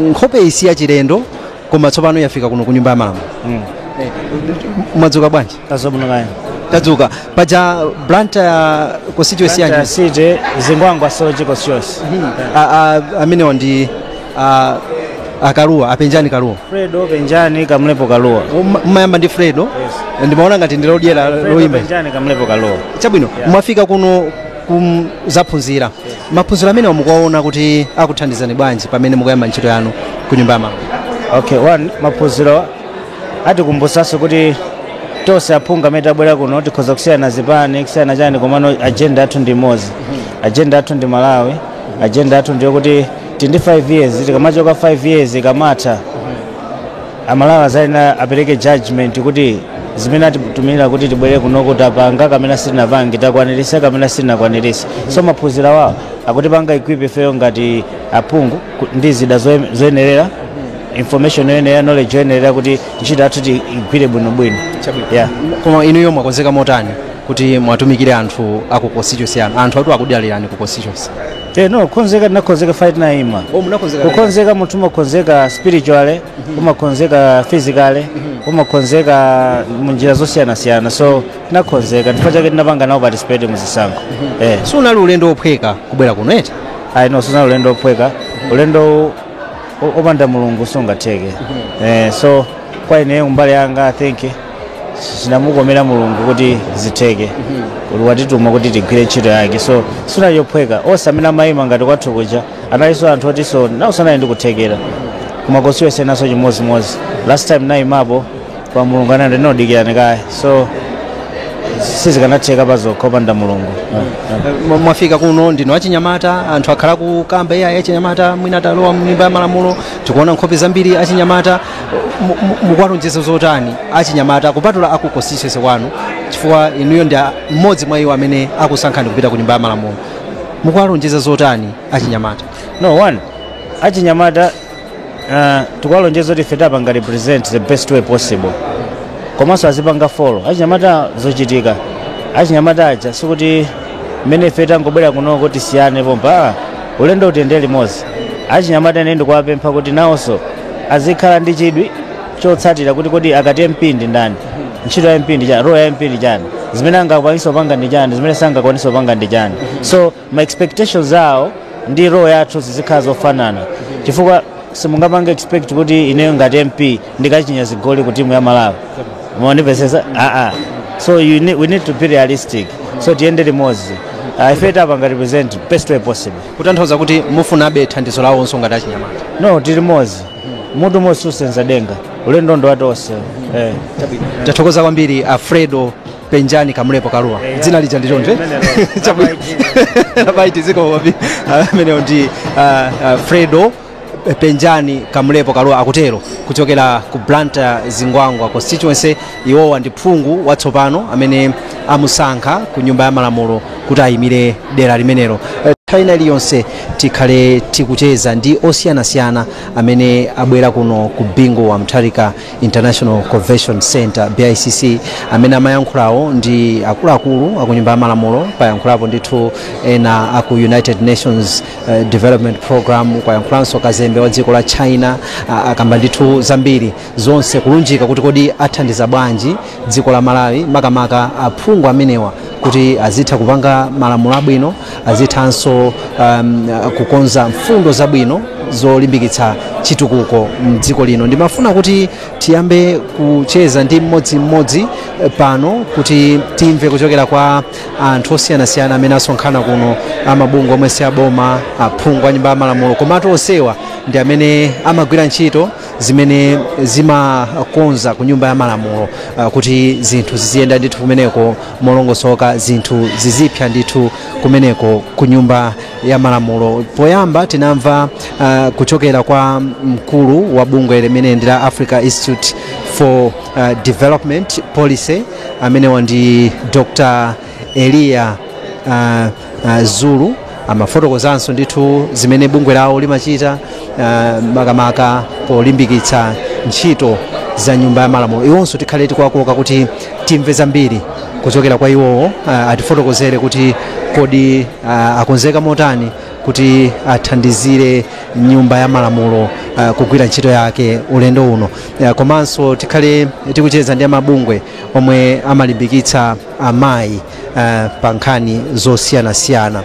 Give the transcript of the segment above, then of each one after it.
nkhope isi ya chilendo koma tsopano yafika kuno ku nyumba ya malamulo Eh, mwadzuka bwanji tadzuka kaya tadzuka paja blantyre constituency yanji city zingwangwa soche constituency A- a- amenewa ndi a- a kaluwa a penjani kaluwa fredo penjani kamlepo kaluwa Mma- mmayamba ndi fredo ndimaona ngati ndilodyera Fredo loyimba penjani kamlepo kaluwa chabwino mwafika kuno kuzaphunzira maphunziro amenewa mukuwaona kuti akuthandizani bwanji pamene mukuyamba ntchito yanu ku nyumba ya malamulo okay one maphunziro atikumbusanso kuti tonse aphungu amene tabwera kuno tikhoza kusiyana zipani kusiyana chani komano agenda yathu ndi imodzi agenda yathu ndi malawi agenda yathu ndiyo kuti tili ndi 5 years tikamachoka 5 years ikamatha amalawi azayenera apereke judgment kuti zimene atitumira kuti tibwere kunoko tapanga kapena sitinapange takwanirisa kapena sitinakwanirise so maphunziro awa akutipanga equip ifeyo ngati aphungu ku- ndi zida zoye- zoyenerera information yoyenerera knowledge yoyenerera kuti ntchito yathu tiigwire bwinobwino yeah. koma inuyo mwakonzeka motani kuti muwatumikire anthu aku constituency yanu anthutu akudalirani ku constituency Eh, no kukonzeka ndinakonzeka before ndinaima Oh, munakonzeka kale. kukonzeka munthu umakonzeka spiritually umakonzeka physically umakonzeka munjira zosiyanasiyana so tinakonzeka chifukwa chake tinapanga nawo participate muzisankho eh. siunali ulendo wophweka kubwera kuno eti ayi no sunali ulendo wophweka ulendo opanda mulungu sungatheke eh, so kwa ineyo mbali yanga i think zinamukomera mulungu kuti zitheke kuti watituma kuti tigwire ntchito yake so sinali yophweka onse amene amayima ngati kwathu kuja analinso anthu oti nawonso anali ndi kuthekera koma constituency nanenso chimodzimodzi last time nayimapo koma mulungu anati dikirani kaye so sizikanatheka pazokha opanda mulungu Mwa- mwafika kuno ndinu achinyamata anthu akhala akukamba ayi achinyamata mwina atalowa mnyumba ya malamulo tikuona nkhope zambiri zachinyamata mu- mu- mukuwalonjeza zotani achinyamata kupatula aku constituency kwanu chifukwa inuyo ndi a- mmodzi mwa iwo amene akusankhani kupita ku nyumba ya malamulo mukuwalonjeza zotani achinyamata no one achinyamata uh, tikuwalonjeza kuti ife tiwapanga represent the best way possible komanso azipanga follow achinyamata zochitika achinyamata aja sikuti mmene ife tangobwera kuno tisiyane pompa ah, ulendo tiyende limodzi achinyamata ine ndikuwapempha kuti nawonso azikhala ndi chidwi chotsatira kuti kodi akati MP ndi ndani ntchito ya MP ndi chani role ya MP ndi chani zimene angakwanisa kupanga ndi chani zimene sangakwanise kupanga ndi chani so ma expectations awo ndi role yathu zizikhala zofanana chifukwa simungapange expect kuti ineyo ngati MP ndikachinye zigoli ku timu ya Malawi mwandimvesesa aa so you need, we need to be realistic so tiyende limodzi uh, ife tiwapanga represent best way possible kutanthauza kuti mufunabe thandizo lawo onse ngati achinyamata no tili limodzi mutu mmodzi susenza denga ulendo ndo watonse eh. tathokoza kwambiri alfredo penjani kamlepo kaluwa dzina lija ndi tonde chabe iai zikomo kwambiri amenewo ndi ah, alfredo penjani kamlepo kalua akutero kuchokera ku blantyre zingwangwa constituency iwowa ndi phungu watsopano amene amusankha ku nyumba ya malamulo kuti ayimire dera limenelo Eh, nthawi ina iliyonse tikhale tikucheza ndi osiyanasiyana amene abwera kuno ku bingu wa mutharika international convention center bicc amene amayankhulawo ndi akuluakulu akunyumba ya malamulo payankhulapo ndithu ena aku united nations eh, development program kwayankhulanso kazembe wa dziko la china a- akamba ndithu zambiri zonse kulunjika kuti kodi athandiza bwanji dziko la malawi makamaka aphungu amenewa kuti azitha kupanga malamulo abwino azithanso um, kukonza mfundo zabwino zolimbikitsa chitukuko mdziko lino ndimafuna kuti tiyambe kucheza ndi mmodzimmodzi eh, pano kuti timve kuchokera kwa anthu osiyanasiyana amene asonkhana kuno amabungwe omwe si aboma aphungu a nyumba ya malamulo komatu onsewa ndi amene amagwira ntchito zimene zimakhudza ku nyumba ya malamulo ah, kuti zinthu ziziyenda ndithu kumeneko molongosoka zinthu zizipsa ndithu kumeneko ku nyumba ya malamulo poyamba tinamva ah, kuchokera kwa mkulu wa bungwe limene ndi la africa institute for uh, development policy amenewa ndi dr eliya uh, uh, zulu amafotokozanso ndithu zimene bungwe lawo limachita uh, makamaka polimbikitsa ntchito za nyumba ya malamulo iwonso tikhale tikuwakoka kuti timve zambiri kuchokera kwa iwowo uh, atifotokozere kuti kodi uh, akonzeka motani kuti athandizire nyumba ya malamulo uh, kugwira ntchito yake ulendo uno ya, komanso tikhale tikucheza ndi amabungwe omwe amalimbikitsa amayi uh, pa nkhani zosiyanasiyana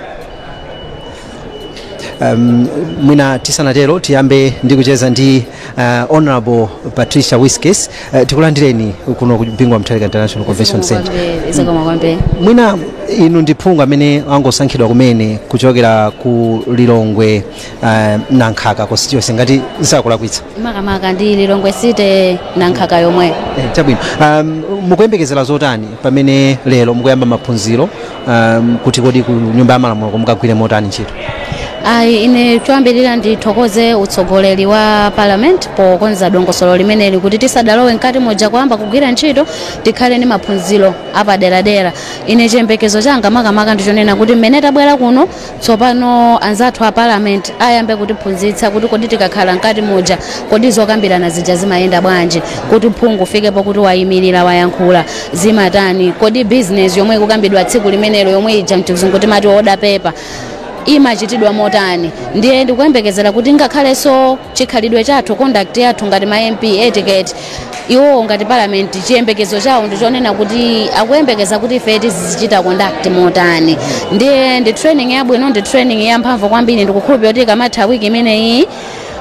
um, mwina tisanatero tiyambe ndi kucheza ndi uh, honorable patricia wiskes uh, tikulandireni kuno ku bingu wa mutharika international convention center zikomo kwambiri mwina inu ndi phungu amene angosankhidwa kumene kuchokera ku lilongwe uh, nankhaka constituency ngati sindikulakwitsa makamaka ndi lilongwe city nankhaka yomwe Eh, chabwino um, mukuyembekezera zotani pamene lero mukuyamba maphunziro um, kuti kodi ku nyumba ya malamulo ko mukagwire motani ntchito ayi ine choyambirira ndithokoze utsogoleri wa parliament pokonza dongosolo limeneli kuti tisadalowe mkati moja kuyamba kugwira ntchito tikhale ndi maphunziro apaderadera ine chiyembekezo changa makamaka ndichonena kuti mmene tabwera kuno Tsopano anzathu a Parliament ayambe kutiphunzitsa kuti kodi tikakhala mkati muja kodi zokambirana zija zimayenda bwanji, kuti phungu afike pokuti wayimilira wayankhula zimatani, kodi business yomwe ikukambidwa tsiku limenelo yomwe ija mchizungu timati order paper imachitidwa motani, ndiye ndikuyembekezera kuti ngakhalenso chikhalidwe chathu, conduct yathu ngati ma MP, etiquette. iwowo ngati palamenti chiyembekezo chawo ndi chonena kuti akuyembekeza kuti ife tizichita conduct motani ndiye ndi training yabwino ndi training yamphamvu kwambiri ndikukhulupirira kuti ikamatha wiki imeneyi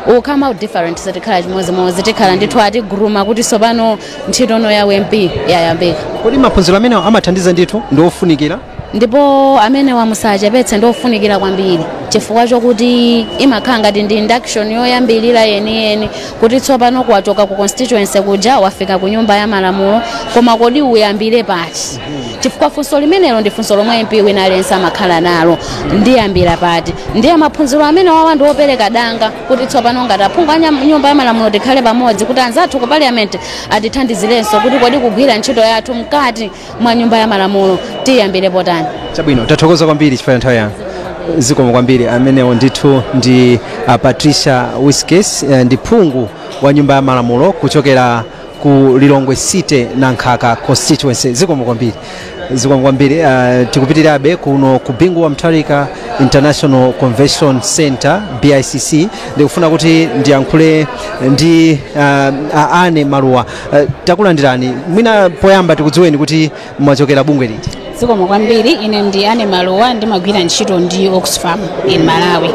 we'll come out different sitikhala chimodzimodzi tikhala ndithu atiguruma kuti tsopano ntchito ya u MP yayambika kodi maphunziro amenewa amathandiza ndithu ndi ofunikira ndipo amenewa musachepetse ndi ofunikira kwambiri chifukwa chokuti imakhala ngati ndi induction yoyambirira yeniyeni kuti tsopano wachoka ku constituency kuja wafika ku nyumba ya malamulo koma kodi uyambire pati chifukwa funso limenelo ndi funso lomwe mp wina aliyense amakhala nalo ndiyambira pati ndiye maphunziro amenewawa ndi opereka danga kuti tsopano ngati aphungu a nyam- nyumba ya malamulo tikhale pamodzi kuti anzathu ku parliament atithandizirenso kuti kodi kugwira ntchito yathu mkati mwa nyumba ya malamulo tiyambire potani chabwino tathokoza kwambiri chifukwa cha nthawi yanu zikomo kwambiri amenewo ndithu ndi uh, patricia wiskes eh, ndi phungu wa nyumba ya malamulo kuchokera ku lilongwe city nankhaka constituency zikomo kwambiri zikomo kwambiri uh, tikupitirabe kuno ku bingu wa mutharika international convention center bicc ndikufuna kuti ndiyankhule ndi uh, a ane maluwa Eh, takulandirani mwina poyamba tikudziweni kuti mwachokera bungwe liti zikomo kwambiri ine ndi ane maluwa ndimagwira ntchito ndi oxfam in malawi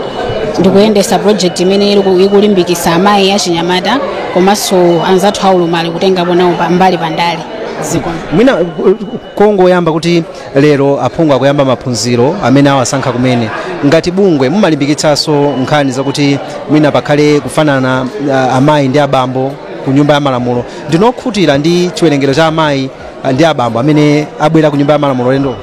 ndikuyendesa project imene iliku- ikulimbikisa amayi achinyamata komanso anzathu aulumali kutengapo nawo pa- mbali pandale zikomo mwina ku- kongoyamba kuti lero aphungu akuyamba maphunziro amenewa asankha kumene ngati bungwe mumalimbikitsanso nkhani zakuti mwina pakhale kufanana ah, amayi ndi abambo ku nyumba ya malamulo ndinu okhutira ndi chiwerengero cha amayi ah, ndi abambo amene abwera ku nyumba ya malamulo ulendo uno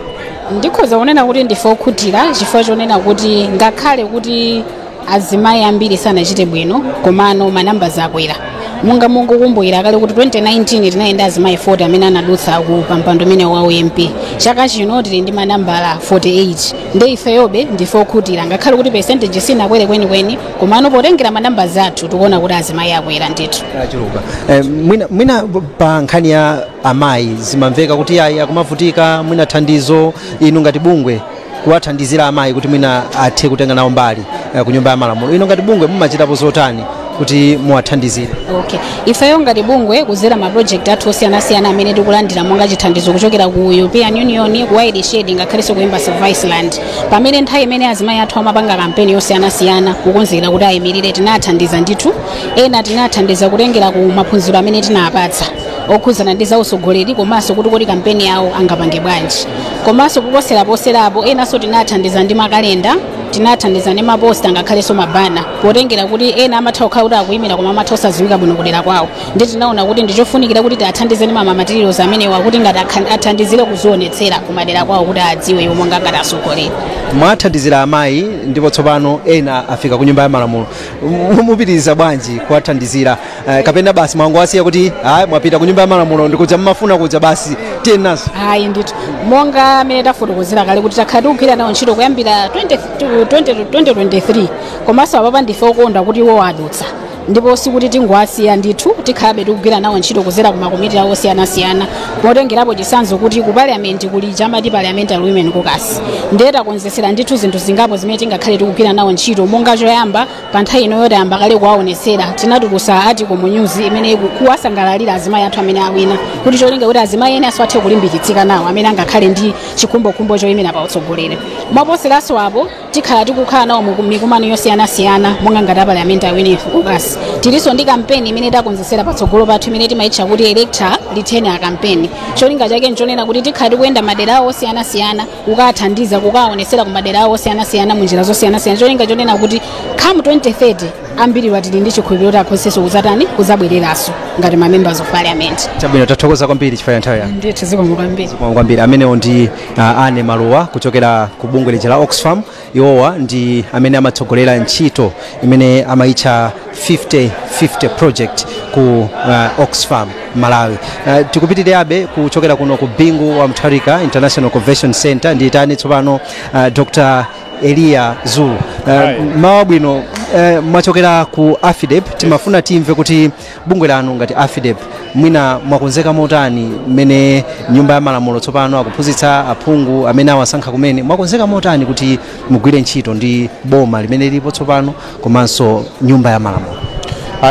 ndikhoza kunena kuti ndife okhutira chifukwa chonena kuti ngakhale kuti azimayi ambiri sanachite bwino komano manambala akwera mungakumbukire kale kuti 2019 tinali ndi azimayi 40 amene anadutsa ku mpando umenewu wa u MP chaka chino tili ndi manambala 48 nde ifeyobe ndife okhutira ngakhale kuti percentage sinakwere kwenikweni komano potengera manambala athu tikuona kuti azimayi akwera ndithu achuluka eh, mwina, mwina pa nkhani ya amayi zimamveka kuti ayi akumavutika mwina thandizo inu ngati bungwe kuwathandizira amayi kuti mwina athe kutenga nawo mbali eh, ku nyumba ya malamulo inu ngati bungwe mumachitapo zotani kuti muwathandizire okay ifeyo ngati bungwe kuzera ma project athu osiyanasiyana amene tikulandira monga chithandizo kuchokera ku european union ku wide shade ngakhalenso ku embassy of iceland pamene nthawi imene azimayi athu amapanga kampeni yosiyanasiyana kukonzekera kuti ayimirire tinathandiza ndithu ena tinathandiza kutengera ku maphunziro amene tinapatsa okhudzana ndi zautsogoleri komanso kuti kodi kampeni yawo angapange bwanji komanso kuposeraposerapo enanso tinathandiza ndi makalenda tinathandiza ndi maposta ngakhalenso mabana potengera kuti ena amatha kukhala kuti akuyimira koma amatha osadziwika bwino kudera kwawo nde tinaona kuti ndichofunikira kuti tiathandize ndi mamamaterials amenewa kuti ngati akhan- athandizire kuzionetsera kumadera kwawo kuti adziwe iwo monga ngati asogoleri mwathandizira amayi ndipo tsopano ena afika ku nyumba ya malamulo M- mupitiriza bwanji kuwathandizira Eh, kapena basi mwangowasiya kuti ayi mwapita ku nyumba ya malamulo ndi kuja mmafuna kuja basi tiyeni nazo ayi ndithu monga amene tafotokozera kale kuti takhala tikugwira nawo ntchito kuyambira 20 20 2023 komanso apapa ndife okondwa kuti iwo adutsa ndipo sikuti tingowasiya ndithu tikhalabe tikugwira nawo ntchito kudzera ku makomiti awo osiyanasiyana potengerapo chisanzo kuti ku parliament kuli chamati parliamentary women caucus ndiye takonzetsera ndithu zinthu zingapo zimene tingakhale tikugwira nawo ntchito monga choyamba pa nthawi inoyo tayamba kale kuwaonetsera tinatulusa article mu news imene iku- kuwasangalalira azimayi athu amene awina kuti cholinga kuti azimayi ena azathe kulimbikitsika nawo amene angakhale ndi chikhumbokhumbo choyimira pa utsogoleri mwaposeranso apo Tikhala tikukhala nawo mu mikumano yosiyanasiyana monga ngati a Parliamentary Women Caucus. Tilinso ndi kampeni imene takonzetsera patsogolo pathu imene timaitcha kuti Elect Her Retain Her Campaign. Cholinga chake nchonena kuti tikhala tikuyenda madera awo osiyanasiyana kukawathandiza kukawaonetsera ku madera awo osiyanasiyana mu njira zosiyanasiyana. Cholinga chonena kuti come 2030 ambiriwa tili ndi chikhulupiriro kuti akhonzanso kudzatani kudzabwereranso ngati ma members of parliament. Chabwino, tathokoza kwambiri chifukwa cha nthawi yanu. Ndithu zikomo kwambiri. Zikomo kwambiri amenewo ndi uh, anne maluwa kuchokera ku bungwe lija la oxfam iwowa ndi amene amatsogolera ntchito imene amayitcha 5050 project ku uh, oxfam malawi uh, tikupitirirabe kuchokera kuno ku bingu wa mutharika international convention center ndiitane tsopano uh, dr eliya zulu uh, mmawa wabwino uh, mwachokera ku afidep timafuna timve kuti bungwe lanu ngati afidep mwina mwakonzeka motani mmene nyumba ya malamulo tsopano akuphunzitsa aphungu amene awasankha kumene mwakonzeka motani kuti mugwire ntchito ndi boma limene lilipo tsopano komanso nyumba ya malamulo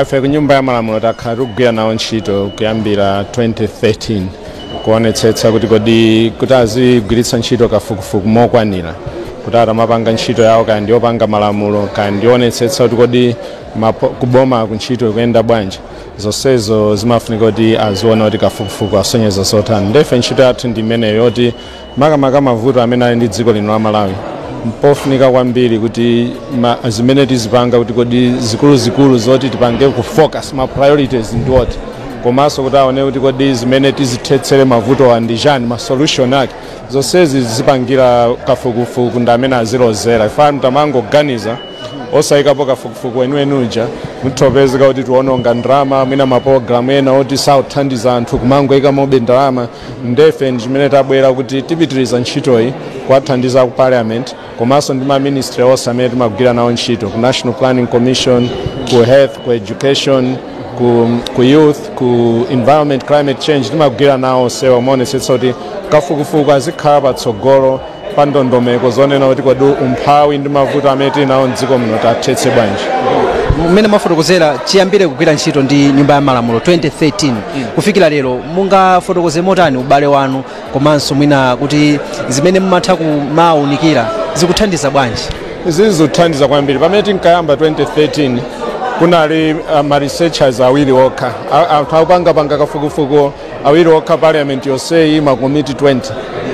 ife ku nyumba ya malamulo takhala tikugwira nawo ntchito kuyambira 2013 kuonetsetsa kuti kodi kuti azigwiritsa ntchito kafukufuku mokwanira kuti akamapanga ntchito yawo kaya ndiyopanga malamulo kaya ndiyoonetsetsa kuti kodi mapo, kuboma kuntchito ikuyenda bwanji zonsezo zimafunika kuti aziona kuti kafukufuku asonyeza zotani ndefe ntchito yathu ndi imeneyo yoti makamaka mavuto amene ali ndi dziko lino la malawi mpofunika kwambiri kuti ma, zimene tizipanga kuti kodi zikuluzikulu zoti tipange ku focus ma priorities ndi what komanso kuti aone kuti kodi zimene tizithetsere mavutowa ndi chani ma solution ake zonsezi zipangira kafukufuku ndi amene azilozera if not tamangoganiza osayikapo kafukufuku weniweni uja mutha kupezeka kuti tiwononga ndalama mwina mapologalamu ena oti sakuthandiza anthu kumangoyikamo be ndalama ndefe ndi chimene tabwera kuti tipitiriza ntchitoyi kuwathandiza ku parliament komanso ndi maministry onse amene timagwira nawo ntchito ku national planning commission ku health ku education ku, ku youth ku environment climate change timagwira nawo onsewa moonetsetsa kuti kafukufuku azikhala patsogolo pa ndondomeko zonena kuti kodi umphawi ndi mavuto amene tili nawo mdziko muno tiwathetse bwanji mmene mwafotokozera chiyambire kugwira ntchito ndi nyumba ya malamulo 2013 kufikira lero mungafotokoze motani ubale wanu komanso mwina kuti zimene mumatha kumawunikira zikuthandiza bwanji izi zikuthandiza kwambiri pamene tinkayamba 2013 kunali uh, ma researchers awiri okha A- anthu opangapanga kafukufuku awiri okha parliament yonseyi makomiti 20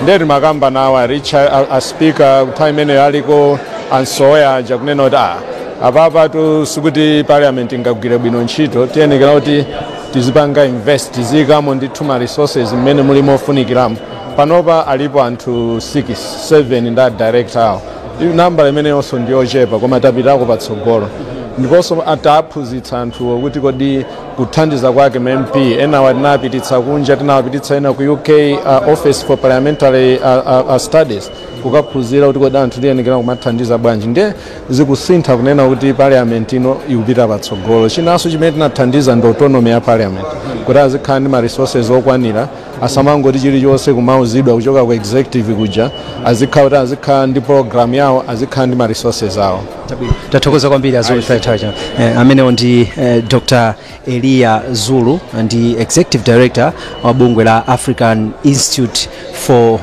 ndiye tinakamba nawo a Richard a, a speaker nthawi imeneyo aliko a Msowoya aja kunena kuti ah, apapatu sikuti parliament ingagwire bwino ntchito tiyenekera kuti tizipanga invest tiziyikamo ndithu ma resources mmene muli mofunikiramo panopa alipo anthu 6 7 ndi a director awo nambala imeneyonso ndiyochepa koma tapitako patsogolo ndiponso tawaphunzitsa anthuwo kuti kodi kuthandiza kwake ma mp ena tinawapititsa kunja tinawapititsa ena ku uk uh, office for parliamentary uh, uh, uh, studies kukaphunzira kuti kodi anthu tiyenekera kumathandiza bwanji nde zikusintha kunena kuti parliament ino ikupita patsogolo chinanso chimene tinathandiza ndi autonomy ya parliament kuti azikhala ndi ma resources okwanira asamangoti chilichonse kumauzidwa kuchoka ku executive kuja azikhala kuti azikhala ndi program yawo azikhala ndi ma resources awo tathokoza kwambiri a zulu zathokoza eh, amenewo ndi eh, dr eliya zulu ndi executive director wa bungwe la african institute for uh,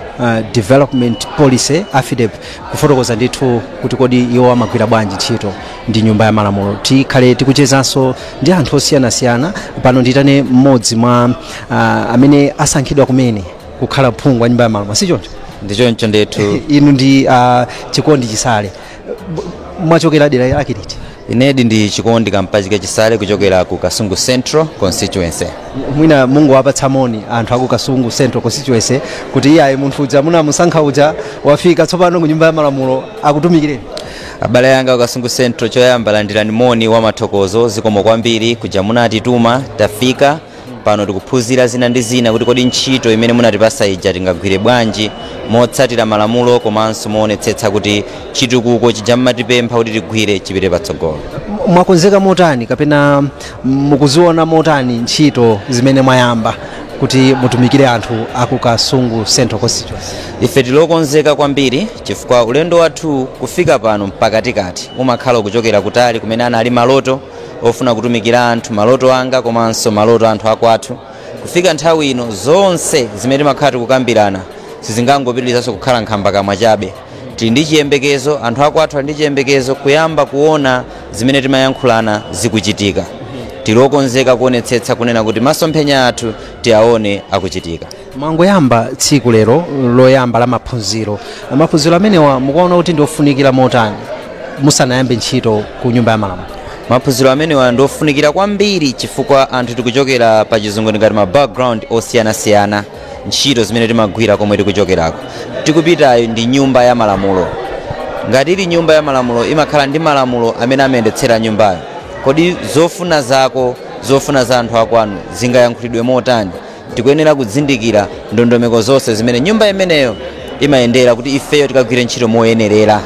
development policy afidep kufotokoza ndithu kuti kodi iwo amagwira bwanji ntchito ndi nyumba ya malamulo tikhale tikuchezanso ndi anthu osiyanasiyana pano ndiitane mmodzi mwa uh, amene asankhidwa kumene kukhala phungu wa nyumba ya malamulo sichoncho ndichoncho ndithu inu ndi uh, chikondi chisale mwachokera dera lake liti ine ndi chikondi kampachike chisale kuchokera ku kasungu central constituency mwina mungawapatse moni anthu aku kasungu central constituency kuti iyayi munthu uja munamusankha uja wafika tsopano ku nyumba ya malamulo akutumikireni abale anga ku kasungu central choyamba landirani moni wa mathokozo zikomo kwambiri kuja munatituma tafika Pano tikuphunzira zina ndi zina kuti kodi ntchito imene munatipasa ija tingagwire bwanji motsatira malamulo komanso moonetsetsa kuti chitukuko chija mmatipempha kuti tigwire chipite patsogolo. Mwakonzeka motani kapena mukuziona motani ntchito zimene mwayamba kuti mutumikire anthu aku Kasungu Central Constituency? Ife tili okonzeka kwambiri chifukwa ulendo wathu kufika pano pakatikati umakhala ukuchokera kutali kumene anali maloto ofuna kutumikira anthu maloto anga komanso maloto a anthu akwathu kufika nthawi ino zonse zimene timakhala tikukambirana sizingangopitirizanso kukhala nkhamba kamwa chabe tili ndi chiyembekezo anthu akwathu ali ndi chiyembekezo kuyamba kuona zimene timayankhulana zikuchitika tili okonzeka kuonetsetsa kunena kuti masomphenya athu tiwaone akuchitika mwangoyamba tsiku lero loyamba la maphunziro maphunziro amenewa mukuwaona kuti ndiofunikira motani musanayambe ntchito ku nyumba ya malamulo maphunziro amenewa ndiofunikira kwambiri chifukwa anthu tikuchokera pa chizungu ndingati ma background osiyanasiyana ntchito zimene timagwira komwe tikuchokerako tikupitayo ndi nyumba ya malamulo ngati ili nyumba ya malamulo imakhala ndi malamulo amene amayendetsera nyumbayo kodi zofuna zako zofuna za anthu akwanu zingayankhulidwe motani tikuyenera kuzindikira ndondomeko zonse zimene nyumba imeneyo imayendera kuti ifeyo tikagwire ntchito moyenerera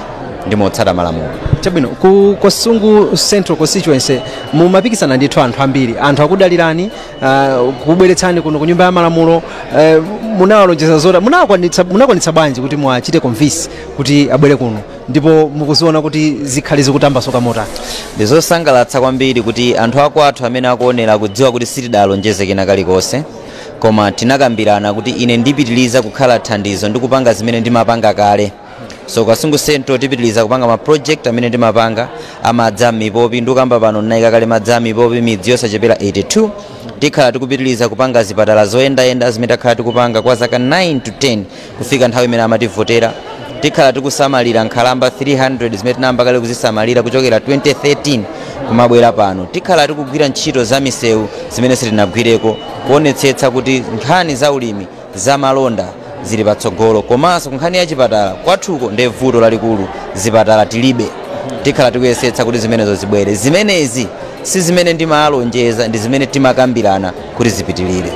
ndi motsata malamulo chabwino ku kasungu central constituency mumapikisana ndithu anthu ambiri anthu akudalirani uh, kubweretsani kuno ku nyumba ya malamulo uh, munawalonjeza zotani munakwanitsa munakwanitsa bwanji kuti muwachite convince kuti abwere kuno ndipo mukuziona kuti zikhala zikutambasuka motani ndizosangalatsa kwambiri kuti anthu akwathu amene akuonera kudziwa kuti sitidalonjeze kena kalikonse koma tinakambirana kuti ine ndipitiliza kukhala thandizo ndi kupanga zimene ndimapanga kale so kasungu central tipitiliza kupanga ma project amene ndimapanga amadzi a mipopi ndikukamba pano ndinayika kale madzi a mipopi midzi yosachepera 82 tikhala tikupitiliza kupanga zipatala zoyendayenda zimene takhala tikupanga kwa zaka 9 to 10 Kufika nthawi imene amativotera, tikhala tikusamalira nkhalamba 300 zimene tinayamba kale kuzisamalira kuchokera 2013 kumabwera pano. Tikhala tikugwira ntchito za misewu zimene sitinagwireko, kuonetsetsa kuti nkhani za ulimi, za malonda zili patsogolo. Komanso kunkhani ya chipatala, kwathuko ndiye vuto lalikulu, zipatala tilibe. Tikhala tikuyesetsa kuti zimenezo zibwere. Zimenezi si zimene ndimalonjeza, ndi zimene timakambirana. kuti zipitilire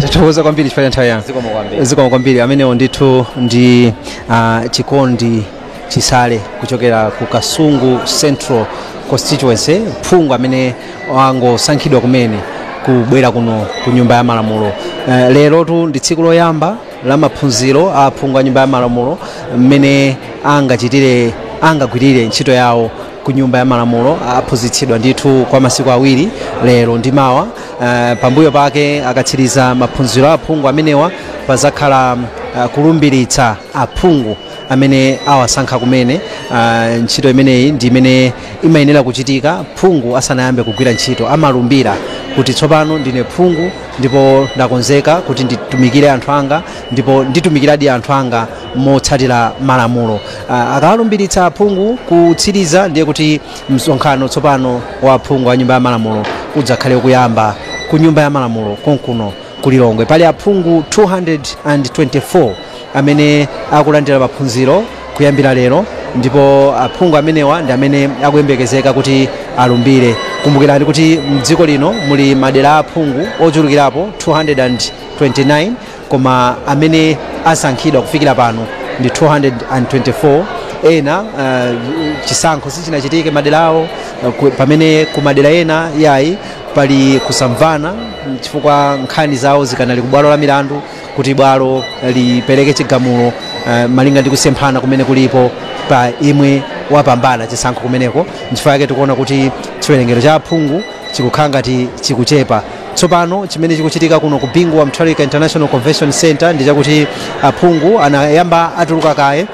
tathokoza kwambiri chifukwa cha nthawi yanu zikomo kwambiri zikomo kwambiri amenewo ndithu ndi uh, chikondi chisale kuchokera ku kasungu central constituency phungu amene wangosankhidwa kumene kubwera kuno ku nyumba ya malamulo uh, lerotu ndi tsiku loyamba la maphunziro a phungu a nyumba ya malamulo mmene angachitire angagwirire ntchito yawo ku nyumba ya malamulo aphunzitsidwa ndithu kwa masiku awiri lero ndi mawa uh, pambuyo pake akatsiriza maphunziro a aphungu amenewa pazakhala uh, kulumbiritsa aphungu amene awasankha kumene uh, ntchito imeneyi ndi imene imayenera kuchitika phungu asanayambe kugwira ntchito amalumbira kuti tsopano ndine phungu ndipo ndakonzeka kuti nditumikire anthu anga ndipo nditumikiradi anthu anga motsatira malamulo. Akawalumbiritsa aphungu kutsiriza ndiye kuti msonkhano tsopano wa aphungu a Nyumba ya Malamulo udzakhale ukuyamba ku Nyumba ya Malamulo konkuno ku Lilongwe. Pali aphungu 224 amene akulandira maphunziro kuyambira lero ndipo aphungu amenewa ndi amene akuyembekezeka kuti alumbire. Kumbukirani kuti m'dziko lino muli madera a aphungu ochulukirapo 229. koma amene asankhidwa kufikira pano ndi 224 ena uh, chisankho sichinachitike madera awo uh, ku- pamene ku madera ena yayi pali kusamvana mm, chifukwa nkhani zawo zikanali ku bwalo la milandu kuti bwalo lipereke chigamulo uh, malinga ndi kusemphana kumene kulipo pa yemwe wapambana chisankho kumeneko nchifukwa yake tikuona kuti chiwerengero cha aphungu chikukhala ngati chikuchepa. Tsopano chimene chikuchitika kuno ku Bingu wa Mutharika International Convention Center ndi chakuti aphungu anayamba atuluka kaye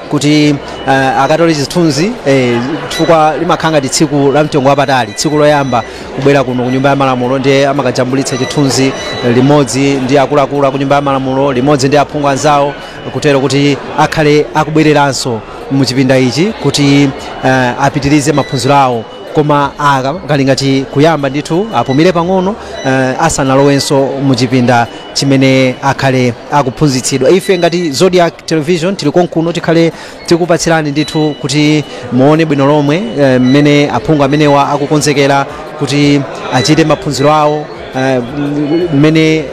kuti uh, akatole chithunzi eh, chifukwa limakhala ngati tsiku la mtengo wapatali tsiku loyamba kubwera kuno ku nyumba ya malamulo ndiye amakajambulitsa chithunzi limodzi ndi akuluakulu a ku nyumba ya malamulo limodzi ndi aphungu anzawo kutero kuti akhale akubwereranso mu chipinda ichi kuti uh, apitirize maphunziro awo koma aka kali ngati kuyamba ndithu apumire pang'ono uh, asanalowenso mu chipinda chimene akhale akuphunzitsidwa ife ngati zodiak television tili konkuno tikhale tikupatsirani ndithu kuti muone bwino lomwe eh, mmene aphungu amenewa akukonzekera kuti achite maphunziro awo eh, m- mmene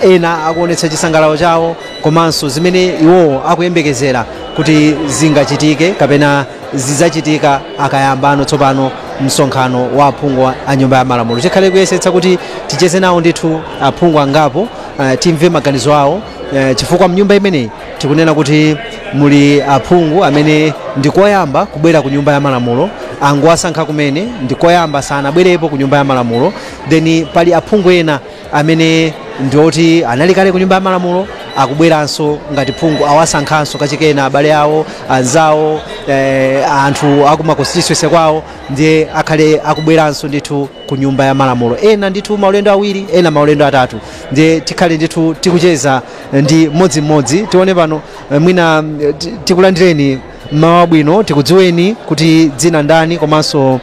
ah, ena akuonetsa chisangalalo chawo komanso zimene iwowo akuyembekezera kuti zingachitike kapena zidzachitika akayambano tsopano msonkhano wa aphungu a- a nyumba ya malamulo tikhale kuyesetsa kuti ticheze nawo ndithu aphungu angapo eh, timve maganizo awo eh, chifukwa mnyumba imeneyi tikunena kuti muli aphungu amene ndikoyamba kubwera ku nyumba ya malamulo angowasankha kumene ndikoyamba sanabwerepo ku nyumba ya malamulo then pali aphungu ena amene ndioti anali kale ku nyumba ya malamulo akubweranso ngati phungu awasankhanso kachikena abale awo anzawo eh, anthu akuma constituency kwawo ndiye akhale akubweranso ndithu ku nyumba ya malamulo ena ndithu maulendo awiri ena maulendo atatu ndiye tikhale ndithu tikucheza ndi mmodzimmodzi tione pano eh, mwina eh, ti- tikulandireni mmawa wabwino tikudziweni kuti dzina ndani komanso uh,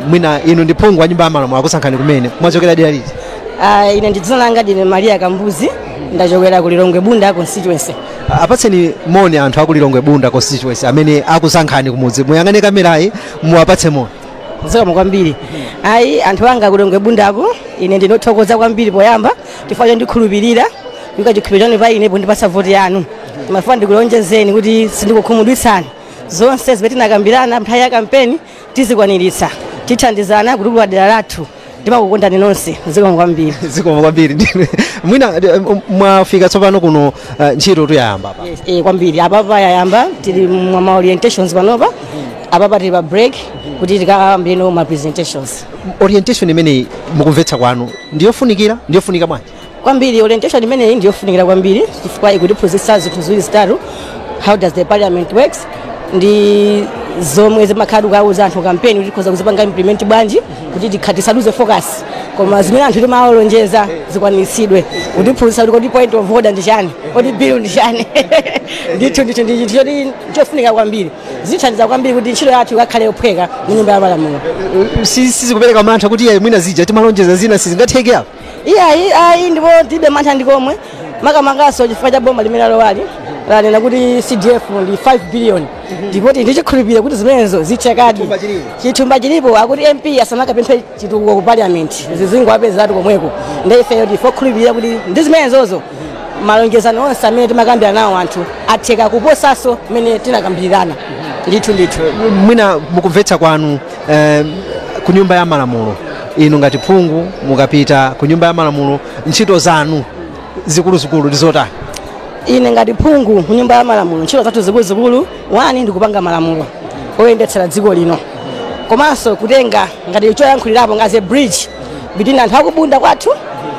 mwina inu ndi phungu wa nyumba ya malamulo akusankhani kumene mwachokera dera liti Ah, ine dzina langa ndine maria kambuzi ndachokera ku lilongwe bunda constituency apatseni moni anthu akulilongwe bunda constituency amene akusankhani kumudzi muyang'ane kamerayi muwapatse moni zikomo kwambiri ayi anthu anga kulilongwe bundako ine ndikuthokoza kwambiri poyamba chifukwa chondikhulupirira kuika chikhulupiriro chanu pa ine pondipatsa voti yanu ndimafuna ndikulonjezeni kuti sindikukhumudwitsani zonse zimene tinakambirana nthawi ya kampeni tizikwaniritsa tithandizana kutukula dera lathu ndimakukondani nonse zikomo kwambiri zikomo kwambiri ndiye mwina eh, mwafika tsopano kuno eh, ntchito tu yayamba apa Yes, eh, kwambiri apapa yayamba tili m'ma orientations panopa apapa tili pa break kuti tikayambirenso ma presentations orientation imeneyi mukumvetsa kwanu ndiyofunikira ndiyofunika bwanji kwambiri orientation imeneyi ndi yofunikira kwambiri chifukwa ikutiphunzitsa zinthu ziwiri zitatu how does the parliament works ndi zomwe timakhala tikuuza anthu kampeni kuti tikhoza kuzipanga implement bwanji kuti tikha- tisaluze focus koma zimene anthu timalonjeza zikwaniritsidwe kutiphunzitsa kuti kodi point of order ndi chani kodi bill ndi chani ndithu ndithu ndi chinthu choti chofunika kwambiri zithandiza kwambiri kuti ntchito yathu ikakhale yophweka mu nyumba ya malamulo Si- sizikupereka mantha kuti eee mwina zija timalonjeza zina sizingatheke apa iyayi ayi ndipo tilibe mantha ndi komwe makamakanso chifukwa cha boma limene lalowali lanena kuti cdf ndi 5 billion ndipo tili ndi chikhulupiriro kuti zimenezo zithekadi Chithumba chilipo. chithumba chilipo akuti mp asamakapemphe chitukuko ku parliament zizingowapezeratu komweko ndi ifeyo ndife okhulupirira kuti ndi zimenezozo malonjezano onse amene timakambira nawo anthu atheka kuposanso mmene tinakambirirana ndithu ndithu mwina mukumvetsa kwanu eh, ku nyumba ya malamulo inu ngati phungu mukapita ku nyumba ya malamulo ntchito zanu zikuluzikulu ndi zotani ine ngati phungu ku nyumba ya malamulo ntchito zathu zikuluzikulu wani ndikupanga malamulo oyendetsera dziko lino komanso kutenga ngati choyankhulirapo ngati a bridge between anthu akubunda kwathu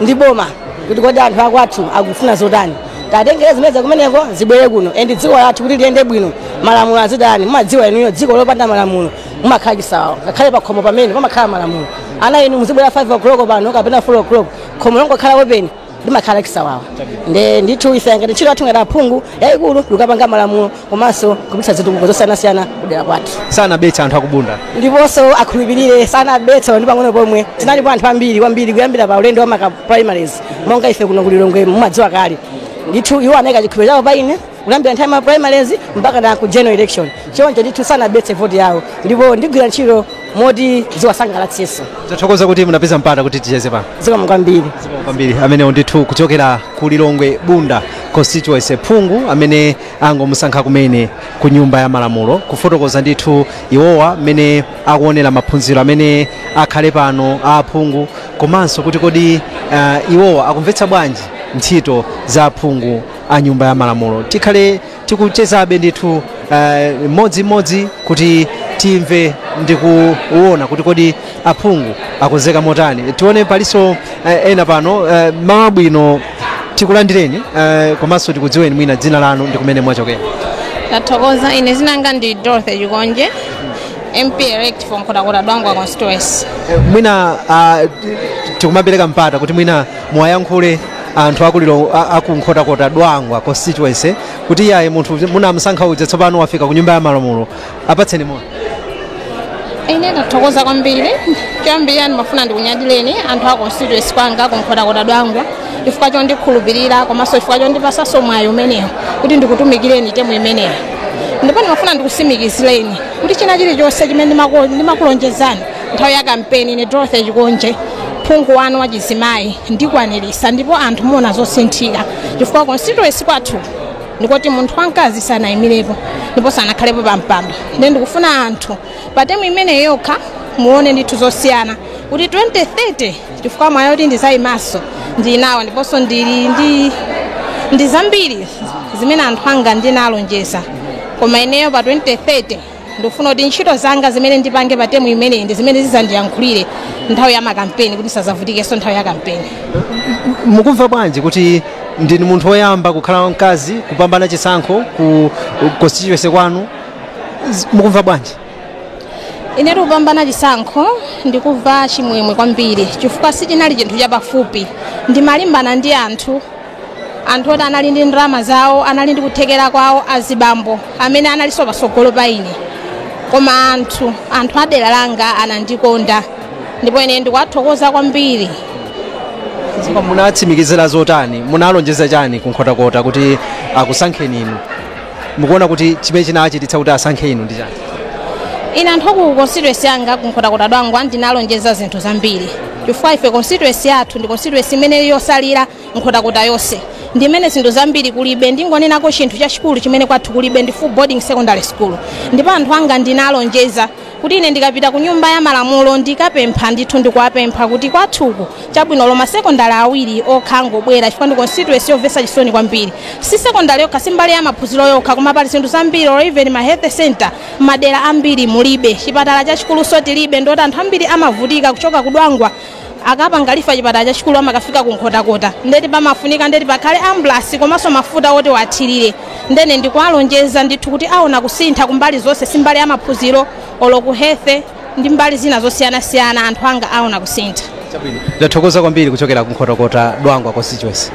ndi boma kuti kodi anthu akwathu akufuna zotani titengere zimene za kumeneko zibwere kuno and dziko lathu kuti liyende bwino malamulo azitani mumadziwa inuyo dziko lopanda malamulo mumakhala chisawawa ngakhale pa khomo pamene pamakhala malamulo ana inu muzibwera 5 o'clock pano kapena 4 o'clock khomo longokhala open limakhala chisawawa nde ndithu ife ngati ntchito yathu ngati aphungu yayikulu ndikapanga malamulo komanso kupititsa zitukuko zosiyanasiyana kudera kwathu sanabetse anthu akubunda ndiponso akhulupirire sanabetse ndi pang'ono pomwe tinalipo anthu ambiri kwambiri kuyambira pa ulendo wa ma primaries monga ife kuno kulilongwe mumadziwa kale ndithu iwo anayika chikhulupiriro chawo pa ine kuyambira nthawi ya ma primaries mpaka na ku general election choncho ndithu sanabetse voti yawo ndipo ndigwira ntchito moti ziwasangalatsenso tathokoza kuti munapeza mpata kuti ticheze pano zikomo kwambiri kwambiri amenewo ndithu kuchokera ku lilongwe bunda constituency phungu amene angomusankha kumene ku nyumba ya malamulo kufotokoza ndithu iwowa mmene akuonera maphunziro amene akhale pano a aphungu komanso kuti kodi uh, iwowa akumvetsa bwanji ntchito za aphungu a nyumba ya malamulo tikhale tikuchezabe ndithu uh, mmodzimmodzi kuti timve ndi kuona kuti kodi aphungu akonzeka motani tione palinso eh, ena pano eh, mmawa wabwino tikulandireni eh, komanso tikudziweni mwina dzina lanu ndi kumene mwachokera tathokoza ine dzina langa ndi dorothy chikonje mp elect for nkhotakota dwangwa constituency Eh, mwina ah, t- tikumapereka mpata kuti mwina muwayankhule anthu akuliro a- aku nkhotakota dwangwa constituency kuti iyayi munthu munamusankha uja tsopano wafika ku nyumba ya malamulo apatseni moni ine ndathokoza kwambiri choyambirira ndimafuna ndikunyadileni anthu a constituency kwanga kunkhotakota dwangwa chifukwa chondikhulupirira komanso chifukwa chondipasanso mwayi umenewo kuti ndikutumikireni temu imeneyo ndipo ndimafuna ndikusimikizireni kuti china chilichonse chimene ndimako- ndimakulonjezani nthawi ya kampeni ine dorothy chikonje phungu wanu wa chizimayi ndikwaniritsa ndipo anthu muona zosinthika chifukwa constituency kwathu ndikoti munthu wamkazi sanayimirepo ndipo sanakhalepo pa mpando nde ndikufuna anthu pa temu imeneyi yokha muone ndithu zosiyana kuti 2030 chifukwa mwayi woti ndizayimaso ndinawo ndiponso ndili ndi ndi zambiri zimene anthu anga ndinalonjeza koma ineyo pa 2030 ndikufuna kuti ntchito zanga zimene ndipange pa temu imeneyi ndi zimene zizandiyankhulire nthawi ya makampeni kuti ndisazavutikenso nthawi ya kampeni mukumva bwanji kuti ndinu munthu woyamba kukhala wamkazi kupambana chisankho ku constituency kwanu Z- mukumva bwanji inetu kupambana chisankho ndikumva chimwemwe kwambiri chifukwa sichinali chinthu chapafupi ndimalimbana ndi anthu anthu oti anali ndi ndalama zawo anali ndi kuthekera kwawo azibambo amene analinso patsogolo pa ine koma anthu anthu a dera langa anandikonda ndipo ine ndikuwathokoza kwambiri Koma munatsimikizira zotani munalonjeza chani ku nkhotakota kuti akusankheni inu mukuona kuti chimene chinachititsa kuti asankhe inu ndi chani ine anthu aku constituency yanga kunkhotakota dwangwa ndinalonjeza zinthu zambiri chifukwa ife constituency yathu ndi constituency imene yotsalira nkhotakota yonse ndimene zinthu zambiri kulibe ndingonenako chinthu chachikulu chimene kwathu kulibe ndi full boarding secondary school ndipo anthu anga ndinalonjeza kuti ine ndikapita ku nyumba ya malamulo ndikapempha ndithu ndikuwapempha kuti kwathuku chabwino olo ma sekondari awiri okha angobwera chifukwa ndi constituency yomvetsa chisoni kwambiri si sekondari yokha si mbali ya maphunziro yokha koma pali zinthu zambiri or even ma health center madera ambiri mulibe chipatala chachikulunso tilibe ndeti anthu ambiri amavutika kuchoka kudwangwa akapanga refer chipatala chachikulu amakafika ku nkhotakota ndeti pamafunika ndeti pakhale ambulasi komanso mafuta oti athirire ndene ndikuwalonjeza ndithu kuti aona kusintha kumbali zonse si mbali ya maphunziro olo ku health ndi mbali zina zosiyanasiyana anthu anga aona kusintha chabwino ndathokoza kwambiri kuchokera ku nkhotakota dwangwa constituency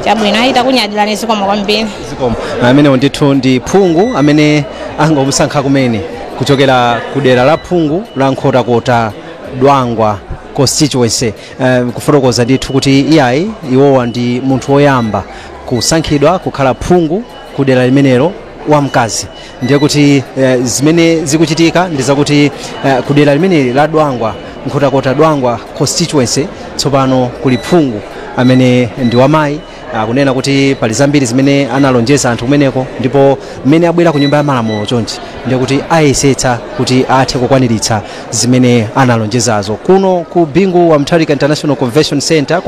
chabwino takunyadirani zikomo kwambiri zikomo amenewo ndithu ndi phungu amene angomusankha kumene kuchokera ku dera la phungu la nkhotakota dwangwa constituency um, kufotokoza ndithu kuti iyayi iwowa ndi munthu woyamba kusankhidwa kukhala phungu ku dera limenelo wamkazi ndiye kuti eh, zimene zikuchitika ndi zakuti eh, ku dera limeneli la dwangwa nkhotakota dwangwa constituency tsopano kuli phungu amene ndi wamayi akunena kuti pali zambiri zimene analonjeza anthu kumeneko ndipo mmene abwera ku nyumba ya malamulo chonchi ndiye kuti ayesetsa kuti athe kukwaniritsa zimene analonjezazo kuno ku bingu wa mutharika international convention center kwa